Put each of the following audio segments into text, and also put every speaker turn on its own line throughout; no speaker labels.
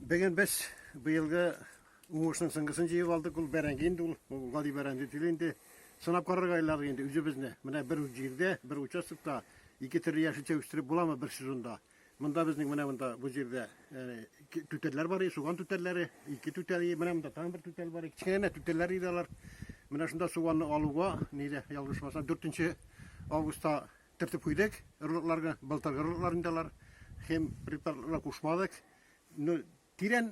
Бүген без быелгы уңышның сыңгысын җыеп алдык. Ул бәрәңге инде ул. Ул гади бәрәңге түгел инде. Сынап карарга уйладык инде үзебезне. Менә бер үк җирдә, бер участокта ике төрле яшелчә үстереп буламы бер сезонда? Монда безнең менә монда бу җирдә түтәлләр бар, суган түтәлләре, ике түтәл, менә монда тагын бер түтәл бар. Кечкенә түтәлләр иде алар. Менә шунда суганны алуга, нидә ялгышмаса, 4 августта Төртеп куйдык ырлыкларга, былтыргы ырлыклар инде алар. Хем препаратларына кушмадык. Ну, тирән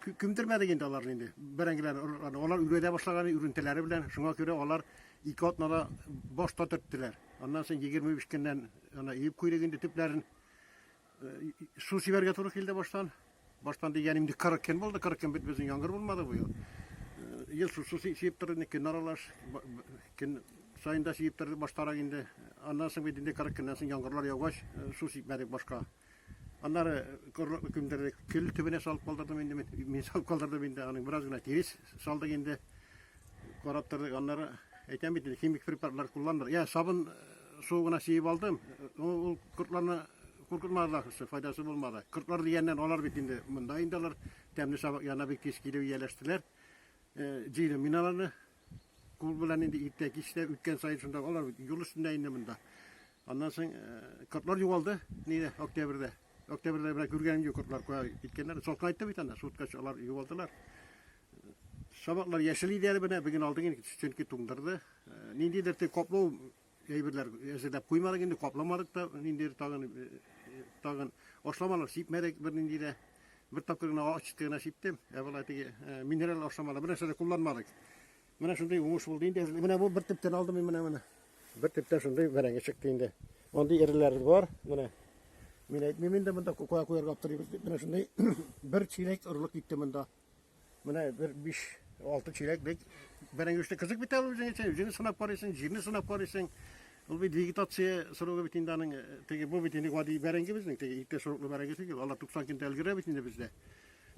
күмдермәдек инде аларны инде. Бәрәңгеләрне, ырлыкларны. Алар үргәдә башлаган үрентеләре белән. Шуңа күрә алар ике атнада башта төрттеләр. Аннан соң 25 көннән ана иеп куйдык инде төпләрен. Су сибәргә туры килде баштан. Баштан дигәнем инде 40 көн булды. 40 көн бит безнең яңгыр булмады бу ел. Ел су су сибеп торды, көн аралаш. Көн саен да сибеп торды баштарак инде. Аннан соң бит инде 40 көннән соң яңгырлар яугач, су сибмәдек башка. Аннары корлыклы көндердек. Көл төбенә салып калдырдым инде мин. Мин салып калдырдым инде. Аның бераз гына тирес салдык инде. Карап тордык. Аннары әйтәм бит инде химик препаратлар кулланмадык. Я сабын Су гына сиеп алдым. Ул кортларны куркытмады ахрысы, файдасы булмады. Кортлар дигәннән алар бит инде монда инде алар тәмле сабак яна бик тиз килеп ияләштеләр. Җыйдым мин аларны. Кул белән инде иртә кичтә үткән саен шунда алар юл өстендә инде монда. Аннан соң кортлар югалды нидә октябрьдә. Октябрьдә менә күргәнем юк кортлар кая киткәннәр. Салкын айтты бит анда, суткач алар югалдылар. Шабаклар яшел иде әле менә, бүген алдык инде, чөнки туңдырды. Ниндидер тек каплау әйберләр әзерләп куймадык инде, капламадык та, ниндидер тагын тагын ашламалар сипмәдек бернинди дә. Бер тапкыр гына ачыкты гына сиптем, ә болай теге минерал ашламалар бер нәрсә дә кулланмадык. Менә шундый уңыш булды инде. Менә бу бер төптән алдым мин менә менә. Бер төптән шундый бәрәңге чыкты инде. Мондый эреләр бар, менә. Мин әйтмим инде монда куя куярга аптырыйбыз дип. Менә шундый бер чиләк орлык китте монда. Менә бер 5-6 чиләк бит. Бәрәңгешне кызык бит әле үзеңә син, үзеңне сынап карыйсың, җирне сынап карыйсың. Ул бит вегетация срогы бит инде аның теге бу бит инде гади бәрәңге безнең, теге иртә сроклы бәрәңге түгел. Алар 90 көндә өлгерә бит инде бездә.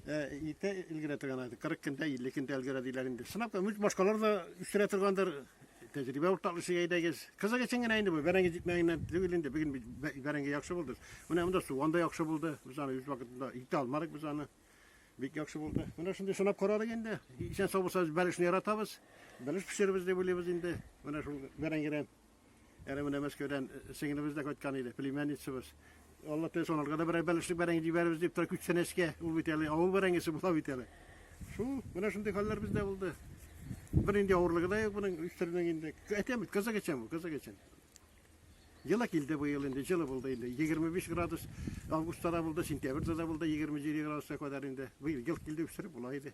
Ә иртә өлгерә торган 40 көндә, 50 көндә өлгерә диләр инде. Сынап кар, башкалар да үстерә торгандыр. Тәҗрибә уртаклышыга әйдәгез. Кызык өчен генә инде бу бәрәңге җитмәгәннән түгел инде. Бүген бәрәңге яхшы булды. Менә монда суган да яхшы булды. Без аны үз вакытында итә алмадык без аны. Бик яхшы булды. Менә шундый сынап карадык инде. Исән сау булсагыз, бәлешне яратабыз. Бәлеш пешеребез дип уйлыйбыз инде. Менә шул бәрәңгедән. Әле менә Мәскәүдән сеңлебез дә кайткан иде, племянницабыз. Алла теләсә, аларга да берәр бәлешлек бәрәңге җибәрербез дип тора күчтәнәчкә. Ул бит әле авыл бәрәңгесе була бит әле. Шул, менә шундый хәлләр бездә булды. Бер инде авырлыгы да юк моның үстерүнең инде. Әйтәм бит, кызык өчен бу, кызык өчен. Җылы килде бу ел инде, җылы булды инде. 25 градус августта да булды, сентябрьдә да булды 27 градуска кадәр инде. Бу ел ел килде үстереп була иде.